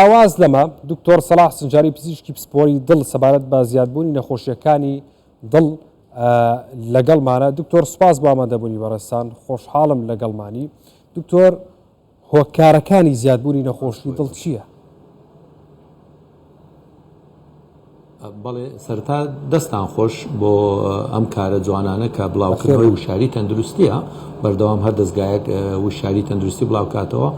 ئاواز لەمە، دکتۆر سەڵاح سنجاری پزیشکی پسپۆری دڵ سەبارەت بە زیادبوونی نەخۆشیەکانی دڵ لەگەڵمانە دکتۆر سپاس بۆ ئامادەبوونی بەڕێستان خۆشحاڵم لەگەڵمانی دکتۆر هۆکارەکانی زیادبوونی نەخۆشی دڵ چییە؟ بەڵێ سەرەتا دەستان خۆش بۆ ئەم کارە جوانانە کە بڵاوکردنەوەی وشاری تەندروستیە بەردەوام هەر دەستگایەک وشاری تەندروستی بڵاوکاتەوە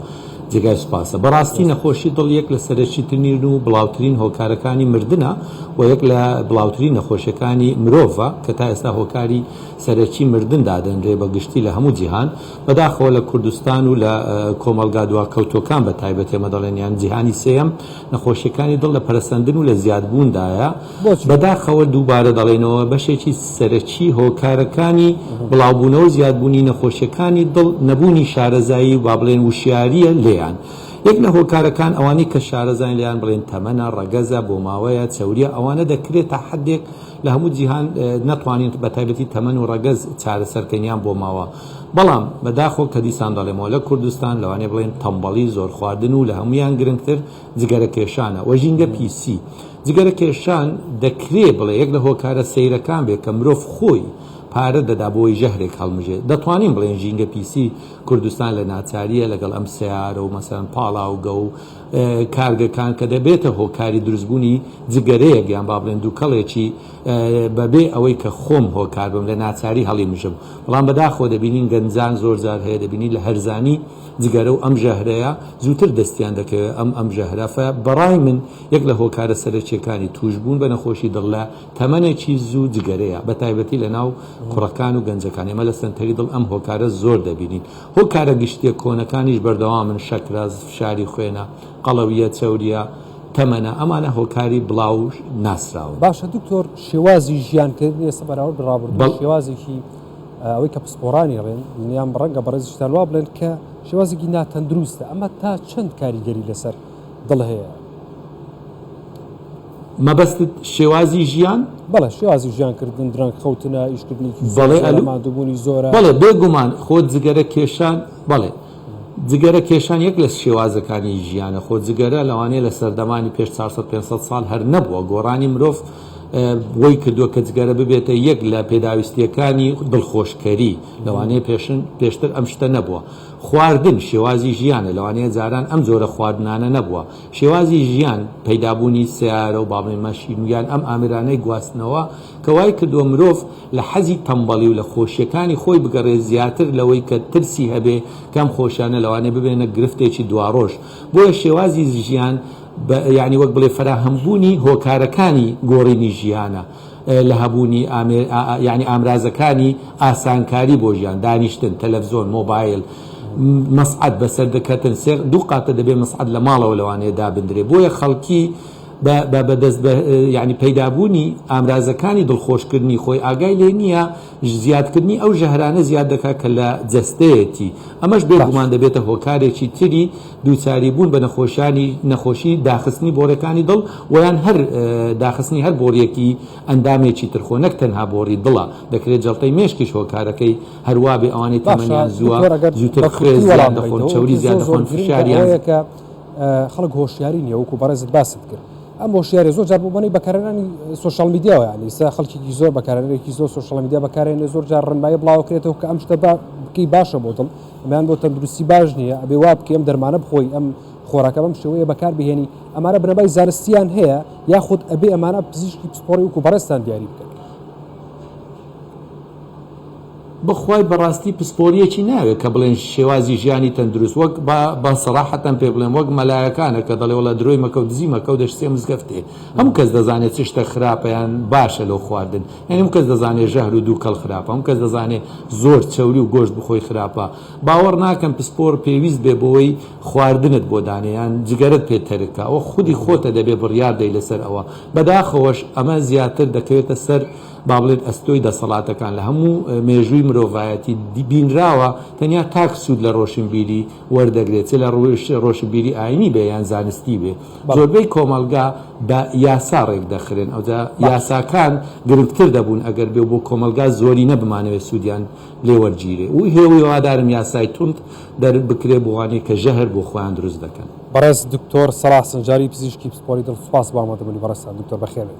جێگای سوپاسە بەڕاستی نەخۆشی دڵ یەک لە سەرەکی ترین و بڵاوترین هۆکارەکانی مردنە و یەک لە بڵاوترین نەخۆشیەکانی مرۆڤە کە تا ئێستا هۆکاری سەرەکی مردن دادەنرێ بە گشتی لە هەموو جیهان بەداخەوە لە کوردستان و لە کۆمەڵگا دواکەوتوەکان بە تایبەت ئێمە دەڵێن یان جیهانی سێیەم نەخۆشیەکانی دڵ لە پەرەسەندن و لە زیادبووندایە، بەداخەوە دووبارە دەڵێینەوە بەشێکی سەرەکی هۆکارەکانی بڵاوبوونەوە و زیادبوونی نەخۆشیەکانی دڵ نەبوونی شارەزایی و با بڵێن وشیارییە لێیان، یەک لە هۆکارەکان ئەوانەی کە شارەزاین لێیان بڵێین تەمەنە، ڕەگەزە، بۆماوەیە، چەورییە ئەوانە دەکرێت تا حەدێک لە هەموو جیهان نەتوانین بەتایبەتی تەمەن و ڕەگەز چارەسەرکەین یان بۆماوە. بەڵام بەداخەوە کە دیسان دەڵێمەوە لە کوردستان لەوانەیە بڵێن تەمبەڵی زۆر خواردن و لە هەموویان گرنگتر جگەرە کێشانە و ژینگە پیسی جگەرە کێشان دەکرێ بڵێ یەک لە هۆکارە سەیرەکان بێ کە مرۆڤ خۆی پارە دەدا بۆی ژەهرێک هەڵمژێ دەتوانین بڵێن ژینگە پیسی کوردستان لە ناچاریە لەگەڵ ئەم سەیارە و مەسەن پاڵاوگە و کارگەکان کە دەبێتە هۆکاری دروستبوونی جگەرەیەک یان با بڵێن دووکەڵێکی بە بێ ئەوەی کە خۆم هۆکار بم لە ناچاری هەڵیمژم بەڵام بە داخەوە دەبینین گەنجان زۆر جار هەیە دەبینی لە هەرزانی جگەرە و ئەم ژەهرەیە زووتر دەستیان دەکەوێت ئەم ئەم ژەهرە فە بەڕای من یەک لە هۆکارە سەرەکیەکانی تووش بوون بە نەخۆشی دڵ لە تەمەنێکی زوو جگەرەیە بە تایبەتی لە ناو کوڕەکان و گەنجەکان ئێمە لە سەنتەری دڵ ئەم هۆکارە زۆر دەبینین هۆکارە گشتیە کۆنەکانیش بەردەوامن شەکرە فشاری خوێنە قەڵەوییە چەورییە تەمەنە ئەمانە هۆکاری بڵاو ناسراون. باشە دکتۆر شێوازی ژیان کردن ئێستا بەراورد بە ڕابردوو شێوازێکی ئەوەی کە پسپۆرانی ڕێن یان ڕەنگە بەڕێزیشتان وا بڵێن کە شێوازێکی ناتەندروستە ئەمە تا چەند کاریگەری لەسەر دڵ هەیە مەبەستت شێوازی ژیان بەڵێ شێوازی ژیان کردن دران خەوتنە ئیشکردنی بەڵێ ئەلمادوبوونی زۆرە بەڵێ بێگومان خۆ جگەرە کێشان بەڵێ جگەرە کێشان یەک لە شێوازەکانی ژیانە، خۆ جگەرە لەوانەیە لە سەردەمانی پێش چوار سەد پێنج سەد ساڵ هەر نەبووە، گۆڕانی مرۆڤ وەی کردووە کە جگەرە ببێتە یەک لە پێداویستییەکانی دڵخۆشکەری، لەوانەیە پێشتر ئەم شتە نەبووە. خواردن شێوازی ژیانە، لەوانەیە جاران ئەم جۆرە خواردنانە نەبووە. شێوازی ژیان، پەیدابوونی سەیارە و بابەی مەشین و یان ئەم ئامرانەی گواستنەوە کە وای کردووە مرۆڤ، لە حەزی تەمبەڵی و لە خۆشیەکانی خۆی بگەڕێ زیاتر لەوەی کە ترسی هەبێ کە ئەم خۆشیانە لەوانەیە ببێنە گرفتێکی دوارۆژ بۆیە شێوازی ژیان بە یانی وەک بڵێ فەراهەمبوونی هۆکارەکانی گۆڕینی ژیانە لە هەبوونی ئامێ یانی ئامرازەکانی ئاسانکاری بۆ ژیان دانیشتن تەلەفزۆن مۆبایل مەسعەد بەسەر دەکەتن سێ دوو قاتە دەبێ مەسعەد لە ماڵەوە لەوانەیە دابندرێ بۆیە خەڵکی بە بەدەست یانی پەیدابوونی ئامرازەکانی دڵخۆشکردنی خۆی ئاگای لێ نییە، زیادکردنی ئەو ژەهرانە زیاد دەکات کە لە جەستەیەتی، ئەمەش بێ گومان دەبێتە هۆکارێکی تری دووچاری بوون بە نەخۆشیانی نەخۆشی داخستنی بۆڕیەکانی دڵ و یان هەر داخستنی هەر بۆڕیەکی ئەندامێکی تر خۆ نەک تەنها بۆڕی دڵە دەکرێت جەڵتەی مێشکیش هۆکارەکەی هەروابێ ئەوانەی تەمەنیان زووە زووتر خوێ زیاد دەخۆن چەوری زیاد دەخۆن فشاریان خەڵک هۆشیاری نیە وەکو بەڕێزت باست کرد ئەم هۆشیارە زۆر جار بۆ بەنەی بەکارانی سوۆشال میدیاوە ینی سا خەڵکیی زۆر بەکارێکی زۆر سوۆشال میدیا بەکارێنێ زۆر جار ڕنمای بڵاوکرێتەوە کە ئەم شتە بکەی باشە بۆ دڵ ئەمیان بۆ تەندروستی باش نییە ئەبێ وا بکەم دەرمانە بخۆی ئەم خۆراکە بەم شێوەیە بەکار بهێنی ئەمانە بنەبای زانستیان هەیە یاخود ئەبێ ئەمانە پزیشکی پسپۆری وکو بەڕێستان دیاری بکەن بەخوای بەڕاستی پسپۆریەکی ناوێ کە بڵێن شێوازی ژیانی تەندروست وەک با سەراحەتەن پێ بڵێم وەک مەلایەکانە کە دەڵێ وەڵا درۆی مەکە و دزی مەکە و دەشسێ مزگەفتێ هەموو کەس دەزانێ چ شتە خراپە یان باشە لەو خواردن یانی هەموو کەس دەزانێ ژەهر و دووکەڵ خراپە هەموو کەس دەزانێ زۆر چەوری و گۆشت بخۆی خراپە باوەڕ ناکەم پسپۆڕ پێویست بێ بەوەی خواردنت بۆ دانێ یان جگەرەت پێ تەرک کا ئەوە خودی خۆتە دەبێ بڕیار دەی لەسەر ئەوە بەداخەوەش ئەمە زیاتر دەکەوێتە سەر با بڵێن ئەستۆی دەسەڵاتەکان لە هەموو مێژووی مرۆڤایەتی بینراوە، تەنیا تاک سوود لە رۆشنبیری وەردەگرێت، چ لە رووی رۆشنبیری ئایینی بێ یان زانستی بێ. زۆربەی کۆمەڵگا بە یاسا رێکدەخرێن، ئەوجا یاساکان گرنگتر دەبوون ئەگەر بێ بۆ کۆمەڵگا زۆرینە بمانەوێ سوودیان لێ وەرگیرێ و هیوادارم یاسای توند دەربکرێ بۆ ئەوانەی کە ژەهر بۆ خۆیان دروست دەکەن. بەڕێز دکتۆر سەلاح سنجاری پزیشکی پسپۆری دڵ سوپاس بۆ ئامادەبوونی بەڕێزتان دکتۆر بەخێربێن.